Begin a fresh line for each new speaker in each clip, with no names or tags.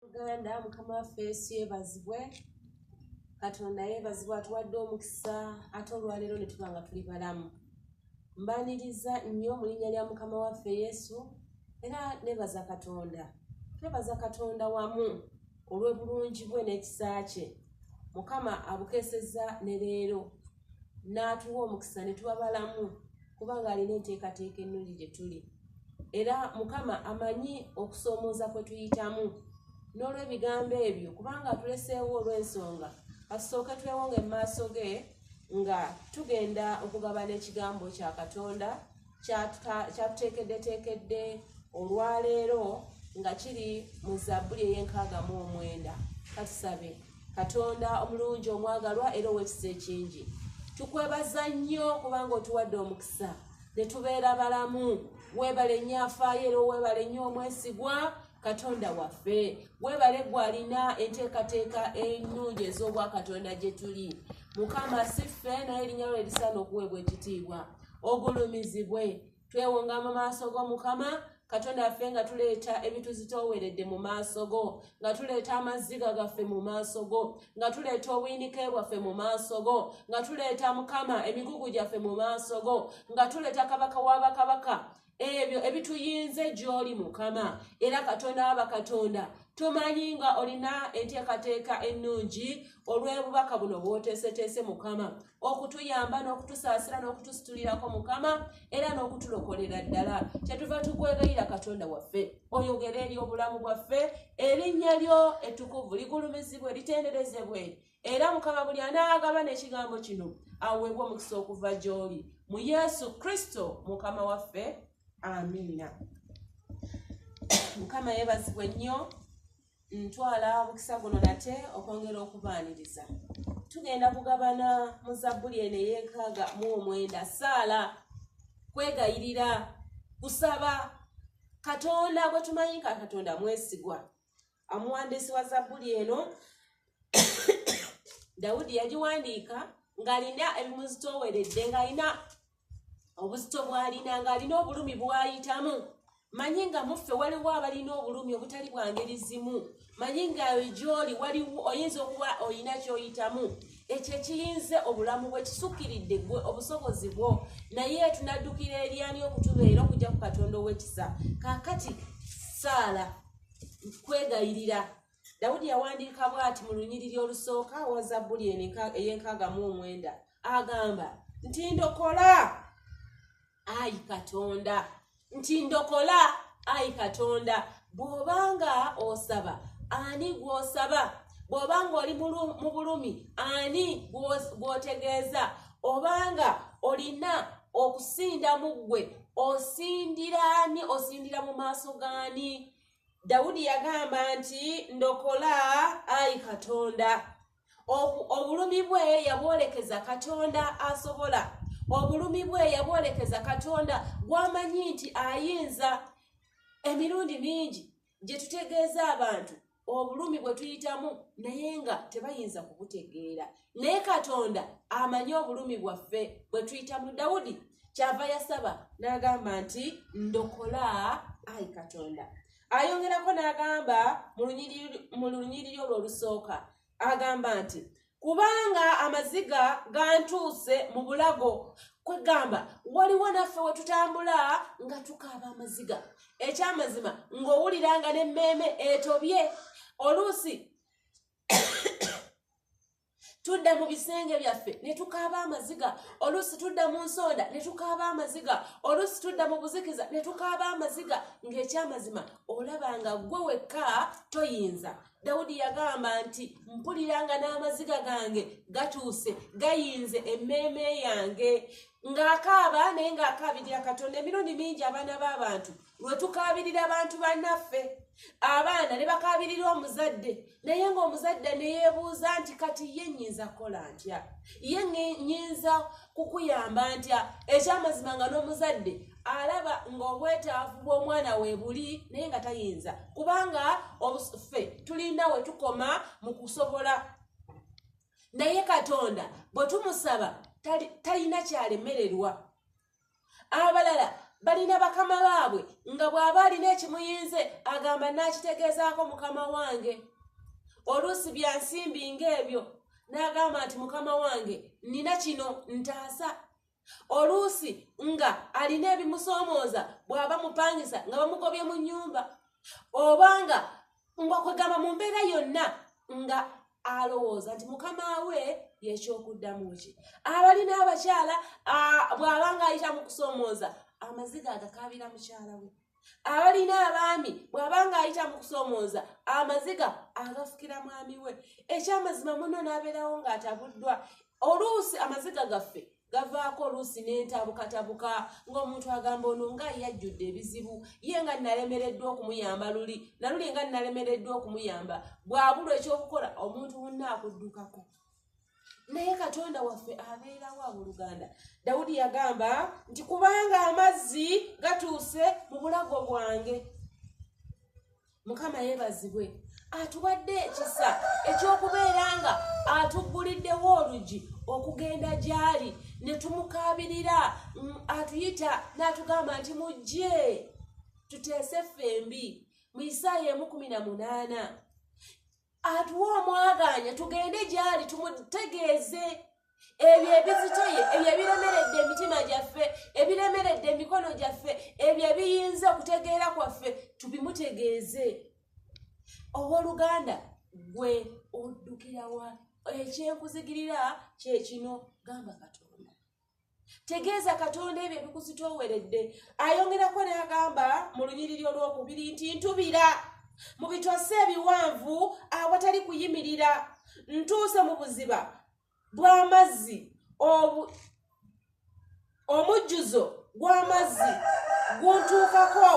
uganda mukama waffe yesu yebazibwe katonda yebazibwe atuwadde omukisa ate olwaleero ne tuba nga tuli balamu mbaniriza nnyo mu linnya lya mukama waffe yesu era nebaza katonda twebaza katonda wamu olw'obulungi bwe n'ekisa kye mukama abukeeseza ne leero n'atuwa omukisa ne tuba balamu kubanga alina enteekateeka ennungi gye tuli era mukama amanyi okusoomooza kwe tuyitamu n'olw'ebigambo ebyo kubanga atuleseewo olw'ensonga kasooke twewonga emaaso ge nga tugenda okugabana ekigambo kya katonda kyatuteekeddeteekedde olwaleero nga kiri mu zabbuli ey'enkaaga mu omwenda katusabe katonda omulungi omwagalwa era owekisa ekingi tukwebaza nnyo kubanga otuwadde omukisa ne tubeera balamu weebale nnyo afaayo era oweebale nnyo omwesigwa katonda waffe weebale gwalina enteekateeka ennungi ez'obwakatonda gye tuli mukama si ffe naye erinnya lwe erisaana okuweebwa ekitiibwa ogulumizibwe twewonga mu maaso g'omukama katonda affe nga tuleeta ebituzitooweredde mu maaso go nga tuleeta amazziga gaffe mu maaso go nga tuleeta obuyinike bwaffe mu maaso go nga tuleeta mukama emigugu gyaffe mu maaso go nga tuleeta kabaka w'abakabaka ebyo ebituyinze gy'oli mukama era katonda wa bakatonda tumanyi nga olina enteekateeka ennungi olw'obubaka buno bw'oteeseteese mukama okutuyamba n'okutusaasira n'okutusitulirako mukama era n'okutulokolera ddala kyetuva tukwegayira katonda waffe oyogere eri obulamu bwaffe erinnya lyo ettukuvu ligulumizibwe litenderezebwe era mukama buli anaagaba n'ekigambo kino aweebwa omukisa okuva gy'oli mu yesu kristo mukama waffe amiina mukama yeebazibwe nnyo ntwala omukisa guno nate okwongera okubaaniriza tugenda kugabana mu zabbuli eno ey'enkaaga mu omwenda saala kwegayirira kusaba katonda gwe tumanyi ka katonda mwesigwa Omuwandiisi wa Zabbuli eno Dawudi yagiwandiika ng'alina ebimuzitooweredde ng'alina obuzito bw'alina ng'alina obulumi bw'ayitamu manyi nga muffe waliwo abalina obulumi obutali bwa ngeri zimu manyi nga gyoli waliwo oyinza okuba olina kyoyitamu ekyo ekiyinze obulamu bwe kisukkiridde gwe obusobozi bwo naye tunaddukira eryani okutubeera okujja ku katonda ow'ekisa kaakati saala kwegayirira dawudi yawandiika bwati mu lunyiriri olusooka wa zabbuli ey'enkaaga mu omwenda agamba nti ndokola ayi katonda nti ndokola ayi katonda bw'oba nga osaba ani gw'osaba bw'oba ng'oli mu bulumi ani gw'otegeeza obanga olina okusinda mu ggwe osindira ani osindira mu maaso gaani dawudi yagamba nti ndokola ayi katonda obulumi bwe yabwolekeza katonda asobola obulumi bwe yabwolekeza katonda gwamanyi nti ayinza emirundi mingi gye tutegeeza abantu obulumi bwe tuyitamu naye nga tebayinza kubutegeera naye katonda amanyi obulumi bwaffe bwe tuyitamu dawudi kyava yasaba n'agamba nti ndokola ayi katonda ayongerako n'agamba mu lunyiriri olwo olusooka agamba nti kubanga amaziga gantuuse mu bulago kwegamba waliwo naffe we tutambula nga tukaaba amaziga ekyamazima ng'owulira nga n'emmeeme etobye oluusi tudda mu bisenge byaffe ne tukaaba amaziga oluusi tudda mu nsonda ne tukaaba amaziga oluusi tudda mu buzikiza ne tukaaba amaziga ng'ekyamazima olaba nga ggwe wekka toyinza dawudi yagamba nti mpulira nga n'amaziga gange gatuuse gayinze emmeeme yange ng'akaaba naye ng'akaabirira katonda emirundi mingi abaana b'abantu lwe tukaabirira abantu bannaffe abaana ne bakaabirira omuzadde naye ng'omuzadde ne yeebuuza nti kati ye nnyinza kukola ntya ye nnyinza kukuyamba ntya ekyamazima nga n'omuzadde alaba ng'obwetaavu bw'omwana we buli naye nga tayinza kubanga ffe tulinda we tukoma mu kusobola naye katonda bwe tumusaba talina kyalemererwa abalala balina bakama baabwe nga bw'aba alina ekimuyinze agamba n'akitegeezaako mukama wange oluusi bya nsimbi ng'ebyo n'agamba nti mukama wange nina kino ntaasa oluusi nga alina ebimusoomooza bw'aba mupangisa nga bamugobye mu nnyumba obanga nga kwegamba mu mbeera yonna nga alowooza nti mukama we yekyokuddamu ki abalina abakyala bw'aba nga ayita mu kusoomooza amaziga agakaabira mukyala we abalina abaami bw'aba nga ayita mu kusoomooza amaziga agafukira mwami we ekyamazima muno n'abeerawo ng'atabuddwa oluusi amaziga gaffe gavaako oluusi n'entabukatabuka ng'omuntu agamba ono nga yajjudde ebizibu ye nga nnalemereddwa okumuyamba luli naluli nga nnalemereddwa okumuyamba bwabulwa ekyokukola omuntu munna akuddukako naye katonda waffe abeerawo abuluganda dawudi yagamba nti kubanga amazzi gatuuse mu bulago bwange mukama yebazibwe atuwadde ekisa ekyokubeera nga atugguliddewo olugi okugenda gyali ne tumukaabirira mm, atuyita n'atugamba nti mujje tuteese ffembi mu isaaya emu kumi na munaana atuwa omwagaanya tugende gyali tumutegeeze ebyo ebizitoye ebyo ebiremeredde emitima gyaffe ebiremeredde emikono gyaffe ebyo ebiyinza okutegeera kwaffe tubimutegeeze owoluganda gwe oddukirawa ekyenkuzigirira kyekino gamba katonda tegeeza katonda ebyo ebikuzitooweredde ayongerako neagamba mu lunyiriri olwokubiri nti ntubira mu bitwase ebiwanvu awatali kuyimirira ntuuse mu buziba bw'amazzi omujjuzo gw'amazzi guntuukako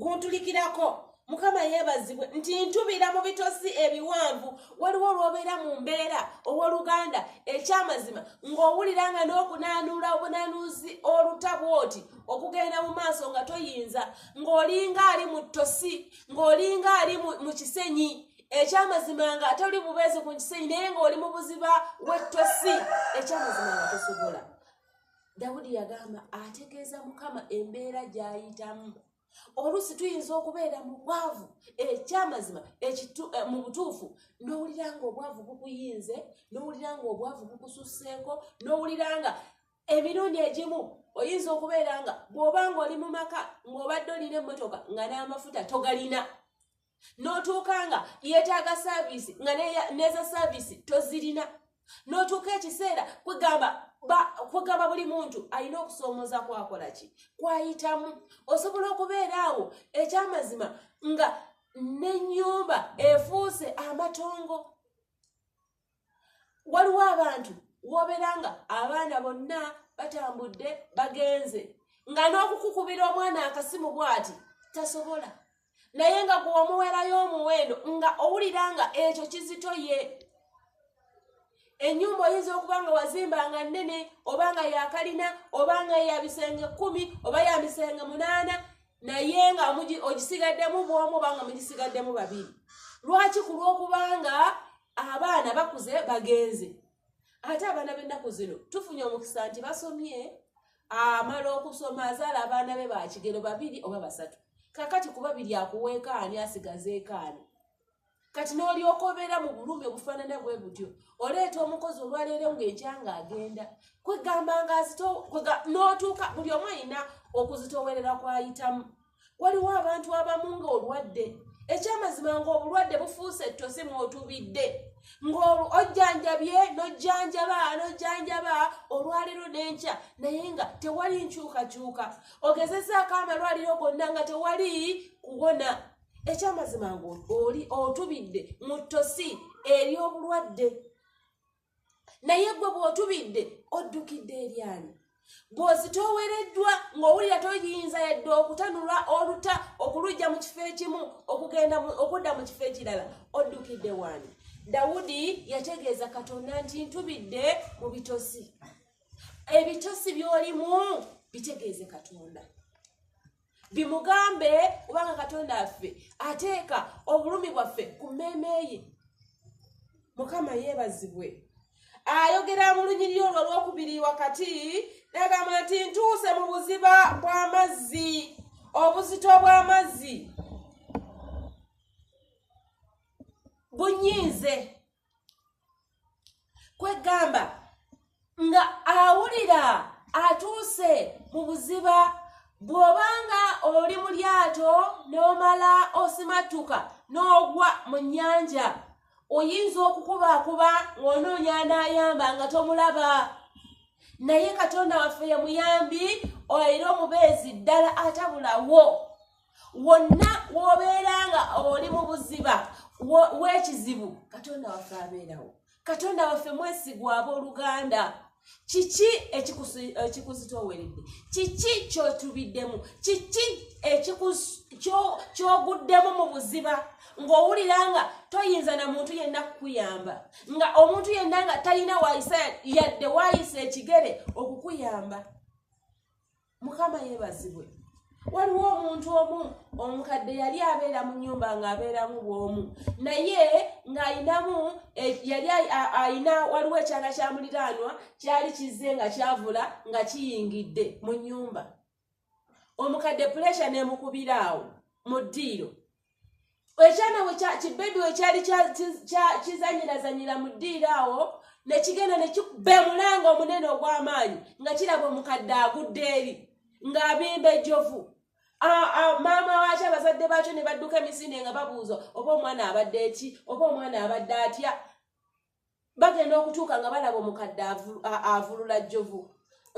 guntulikirako mukama yeebazibwe nti ntubira mu bitosi ebiwanvu waliwo olwobeera mu mbeera ow'oluganda ekyamazima ng'owulira nga n'okunaanuula obunaanuuzi olutabu oti okugenda mu maaso nga toyinza ng'olinga ali mu ttosi ng'olinga ali mu kisenyi ekyamazima nga toli bubeezi ku kisenyi naye ng'oli mu buziba w'ettosi ekyamazima nga tosobola dawudi yagamba ategeeza mukama embeera gy'ayitamu oluusi tuyinza okubeera mu bwavu ekyamazima eh, mu butuufu n'owulira nga obwavu bukuyinze n'owulira nga obwavu bukususseeko n'owulira nga emirundi egimu oyinza okubeera nga bw'oba nga oli mu maka ng'obadde olina emmotoka nga n'amafuta togalina n'otuuka nga yeetaaga saaviisi nga neeza saaviisi tozirina n'otuuka ekiseera kwegamba kwegamba buli muntu alina okusoomooza kwakola ki kwayitamu osobola okubeera awo ekyamazima nga n'ennyumba efuuse amatongo waliwo abantu wobeera nga abaana bonna batambudde bagenze nga n'okukukubira omwana akasimu bwati tasobola naye nga gwe wamuwerayo omuwendo nga owulira nga ekyo kizito ye enyumba oyinza okuba nga wazimba nga nnene oba nga yakalina oba nga yabisenge kumi oba yamisenge munaana naye nga ogisigaddemu bwomu oba nga mugisigaddemu babiri lwaki ku lwokubanga abaana bakuze bagenze ate abaana b'ennaku zino tufunye omukisa nti basomye amala okusoma azaala abaana be bakigero babiri oba basatu kakati kuba biri akuweekaani asigazeekaani kati n'olyoka obeera mu bulumi obufaanana bwe butyo oleeta omukozi olwaleero ng'ekya nga agenda kwegamba nga n'otuuka buli omu alina okuzitoowerera kwayitamu waliwo abantu abamu nga olwadde ekyamazima ngaobulwadde bufuuse ettosi mwotubidde ngaojjanjabye nojjanjaba nojjanjaba olwaliro nenkya naye nga tewali nkyukakyuka ogezezaako amalwaliro gonna nga tewali kuwona ekyamazima ngaoli otubidde mu ttosi eri obulwadde naye gwe bw'otubidde oddukidde eryani bw'ozitoowereddwa ng'owulira toyinza yadde okutanula oluta okulujja mu kifo ekimu okugenda okudda mu kifo ekirala oddukidde waani dawudi yategeeza katonda nti ntubidde mu bitosi ebitosi by'olimu bitegeeze katonda bimugambe kubanga katonda affe ateeka obulumi bwaffe ku mmeeme ye mukama yeebazibwe ayogera mu lunyiriri olwo olwokubiri wakati nagamba nti ntuuse mu buziba bw'amazzi obuzito bw'amazzi bunyiize kwegamba nga awulira atuuse mu buziba bw'obanga oli mu lyato n'omala osimattuka n'ogwa mu nnyanja oyinza okukubaakuba ng'onoonya anaayamba nga tomulaba naye katonda waffe ye muyambi era omubeezi ddala atabulawo wonna wobeera nga oli mu buziba w'ekizibu katonda waffe abeerawo katonda waffe mwesigwa ab'oluganda kiki ekikuzitooweredde kiki kyotubiddemu kiki kyoguddemu mu buziba ng'owulira nga toyinza na muntu yenna kukuyamba nga omuntu yenna nga talina wayisa yadde wayisa ekigere okukuyamba mukama yebazibwe waliwo omuntu omu omukadde yali abeera mu nyumba ng'abeeramu bwomu naye ng'alinamu e, yali alina waliwo ekyana kya muliraanwa kyali kizze nga kyavula nga kiyingidde mu nyumba omukadde puresha n'emukubira awo mu ddiiro ekyana kibebi wekyali kizanyirazanyira mu ddiiro awo nekigenda be mulanga omunene ogw'amaanyi nga kiraba omukadde agudde eri ng'abimba ejjovu maama waaki abazadde baakyo ne badduka emisinde nga babuuza oba omwana abadde eki oba omwana abadde atya bagenda okutuuka nga balaba omukadde avulula jjovu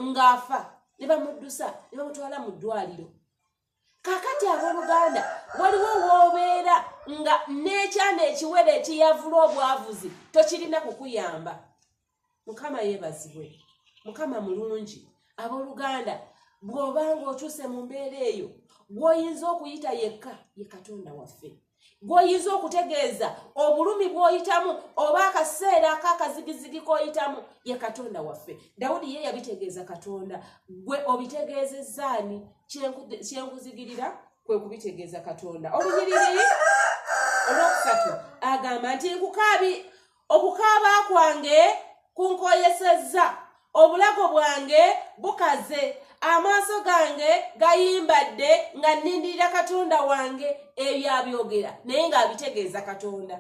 ng'afa ne bamuddusa ne bamutwala mu ddwaliro kakati abooluganda waliwo woobeera nga n'ekyana ekiwere ekiyavula obwavuzi tokirina kukuyamba mukama yeebazibwe mukama mulungi abooluganda bw'oba ng'otuuse mu mbeera eyo gw'oyinza okuyita yekka ye katonda waffe gwoyinza okutegeeza obulumi bwoyitamu oba akaseera akakazigizigi koyitamu ye katonda waffe dawudi ye yabitegeeza katonda gwe obitegeezezaani kyenkuzigirira kwe kubitegeeza katonda olunyiriri olwokusatu agamba nti nkukaabi okukaaba kwange kunkoyesezza obulago bwange bukaze amaaso gange gayimbadde nga nnindirira katonda wange ebyo abyogera naye ng'abitegeeza katonda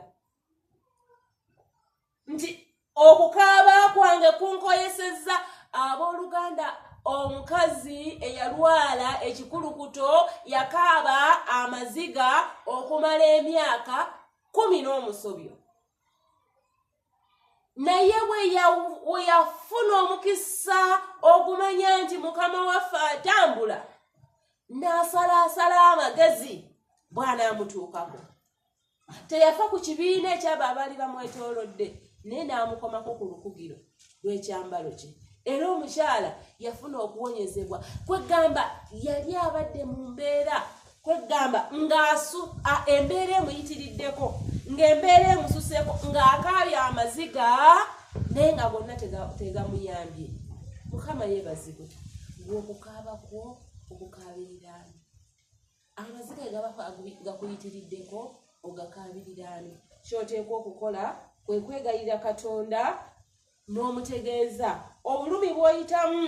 nti okukaaba kwange kunkoyesezza abooluganda omukazi eyalwala ekikulukuto yakaaba amaziga okumala emyaka kumi n'omusobyo naye weyafuna omukisa okumanya nti mukama waffe atambula n'asalaasala amagezi bwanaamutuukako teyafa ku kibiina ekyabo abaali bamwetoolodde naye n'amukomako ku lukugiro lw'ekyambalo kye era omukyala yafuna okuwonyezebwa kwegamba yali abadde mu mbeera kwegamba ngaasu embeera emuyitiriddeko ng'embeera emususeeko ng'akaabya amaziga naye nga gonna tegamuyambye mukama yebazibwe gweokukaaba kwo okukaabiriraani amaziga gaba gakuyitiriddeko ogakaabiriraani kyoteekwa okukola kwe kwegayirira katonda n'omutegeeza obulumi bwoyitamu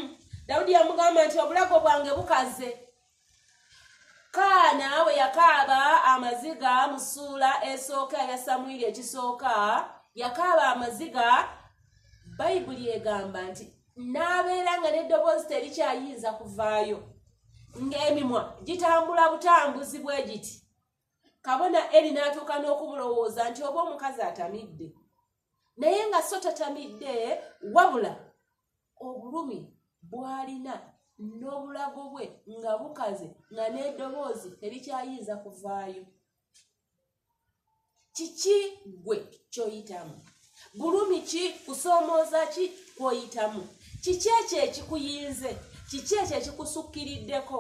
dawudi yamugamba nti obulago bwange bukaze kaana we yakaaba amaziga mu ssuula esooka eya samwiri ekisooka yakaaba amaziga bayibuli egamba nti n'abeera nga n'eddoboozi terikyayinza kuvaayo ng'emimwa gitambula butambuzi bwe giti kabona eri n'atuuka n'okubulowooza nti oba omukazi atamidde naye nga so tatamidde wabula obulumi bw'alina n'obulago bwe nga bukaze nga n'eddoboozi terikyayinza kuvaayo kiki gwe kyoyitamu bulumi ki kusoomooza ki kwoyitamu kiki ekyo ekikuyinze kiki ekyo ekikusukkiriddeko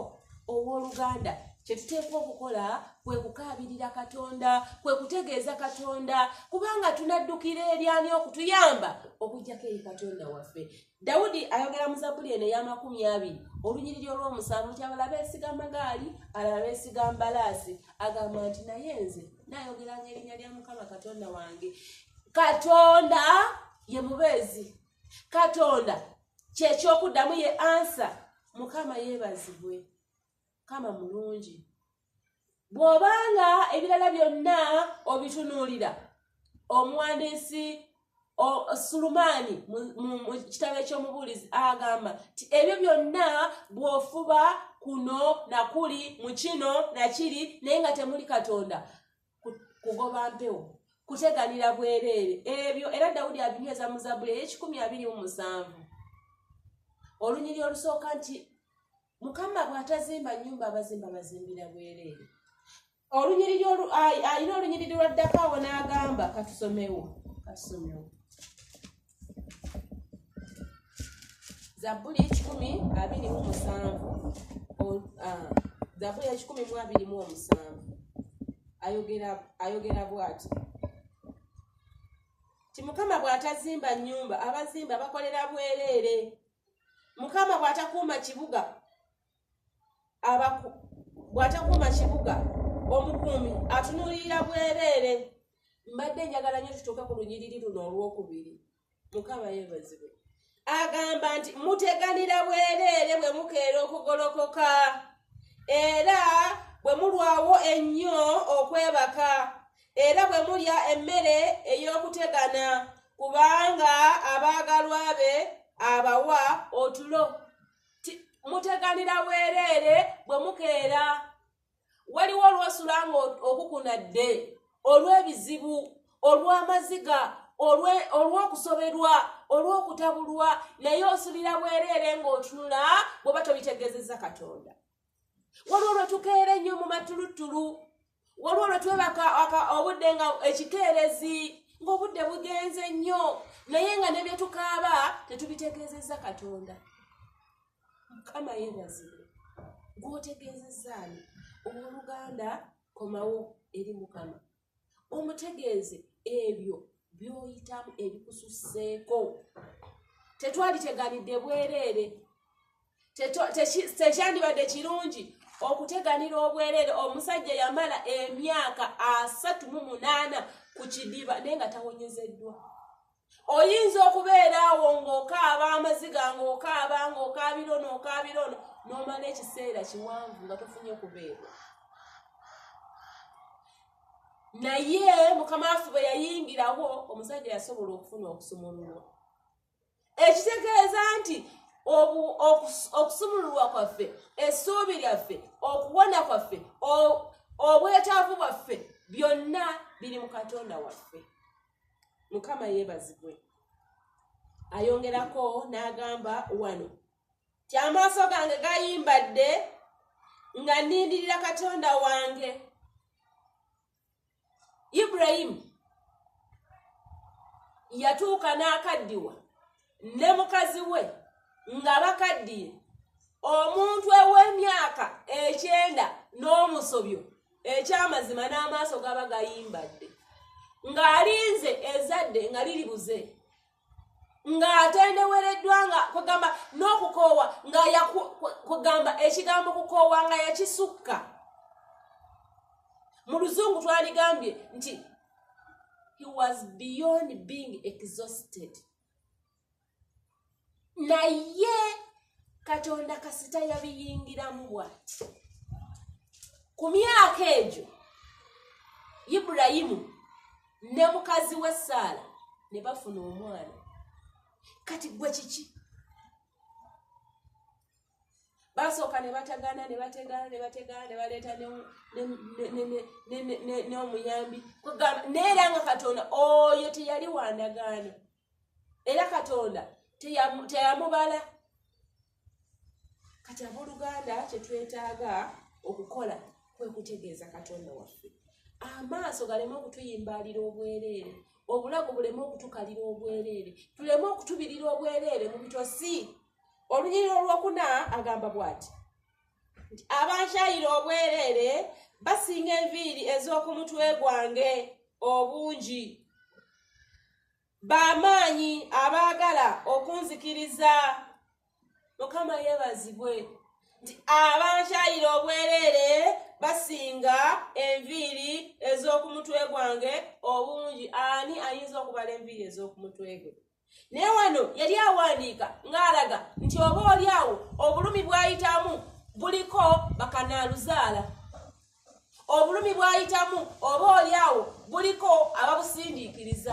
ow'oluganda kyetuteekwa okukola kwe kukaabirira katonda kwe kutegeeza katonda kubanga tunaddukira eryani okutuyamba okujjako eri katonda waffe Dawudi ayogera mu Zabbuli eno ey'amakumi abiri olunyiriri olw'omusanvu nti abala beesiga amagaali alala beesiga mbalaasi agamba nti naye nze nayogeranga erinnya lya mukama katonda wange katonda ye mubeezi katonda kyekyokuddamu ye ansa mukama yeebazibwe kama mulungi bw'oba nga ebirala byonna obitunuulira omuwandiisi sulumaani mu kitabo ekyomubuulizi agamba ti ebyo byonna bw'ofuba kuno nakuli mu kino nakiri naye nga temuli katonda kugoba mpewo kuteganira bwereere ebyo era dawudi abinyweza mu zabuli ey'ekikumi abiri mu musanvu olunyiri olusooka nti mukama bw'atazimba nnyumba abazimba bazimbira bwereere olunyiriri alina olunyiriri lwaddako awo n'agamba katusomewo katusomewo zabbuli ekikumi abiri mu musanvu zabbuli ekikumi mu abiri mu omusanvu ayogera bwati ti mukama bw'atazimba nnyumba abazimba bakolera bwereere mukama bwatakuuma kibuga abaku bwatakuuma kibuga omukuumi atunuulirira bwereere mbadde njagala nyo tutuuke ku lunyiriri luno olwokubiri mukama yebazibwe agamba nti muteganira bwereere bwe mukeera okugolokoka era bwe mulwawo ennyo okwebaka era bwe mulya emmere ey'okutegana kubanga abaagalwa be abawa otulo muteganira bwereere bwe mukeera waliwo olwosula nga okukunadde olw'ebizibu olw'amaziga olw'okusoberwa olw'okutabulwa naye osulira bwereere ng'otunula bw'oba tobitegezeza katonda waliwo lwe tukeera ennyo mu matuluttulu waliwo lwe twebaka obudde nga ekikeerezi ng'obudde bugenze nnyo naye nga ne bye tukaaba tetubitegeezezza katonda mukama yeebazibwe gw'otegeezezzaani owooluganda komawo eri mukama omutegeeze ebyo byoyitamu ebikususseeko tetwali teganidde bwereere tekyandibadde kirungi okuteganira obwereere omusajja yamala emyaka asatu mu munaana ku kidiba naye nga tawonyezeddwa oyinza okubeera awo ng'okaaba amaziga ng'okaaba ng'okaabira ono okaabira ono n'omala ekiseera kiwanvu nga tofunye kubeerwa naye mukama waffe bwe yayingirawo omusajja yasobola okufuna okusumululwa ekitegeeza nti okusumululwa kwaffe essuubi lyaffe okuwona kwaffe obwetaavu bwaffe byonna biri mu katonda waffe mukama yebazibwe ayongerako n'agamba wano ti amaaso gange gayimbadde nga nindirira katonda wange iburayimu yatuuka n'akaddiwa ne mukazi we nga bakaddiye omuntu ew'emyaka ekyenda n'omusobyo ekyamazima n'amaaso gaba gayimbadde ng'alinze ezadde nga liri buze ng'atendewereddwa nga kwegamba n'okukoowa nga kwegamba ekigambo kukoowa nga yakisukka mu luzungu twaligambye nti he was beyond being exhausted naye katonda kasita yabiyingiramu bwati ku myaka egyo ibulayimu ne mukazi we saala ne bafuna omwana kati gwe kiki basooka ne batagaana ne bategaana ne bategaana ne baleeta n'omuyambi neera nga katonda oyo teyali wandagaano era katonda teyamubala kati abooluganda kyetwetaaga okukola kwe kutegeeza katonda waffe amaaso galeme okutuyimbaalira obwereere obulago buleme okutukalira obwereere tuleme okutubirira obwereere mu bitosi olunyiriri olwokuna agamba bwati nti abankyayira obwereere basinga enviiri ez'oku mutwe gwange obungi bamaanyi abaagala okunzikiriza mukama yebazibwe nti abankyayira obwereere basinga enviiri ez'oku mutwe gwange obungi ani ayinza okubala enviiri ez'oku mutwe gwe naye wano yali awandiika ng'alaga nti oba oli awo obulumi bw'ayitamu buliko bakanaaluzaala obulumi bw'ayitamu oba oli awo buliko ababusindiikiriza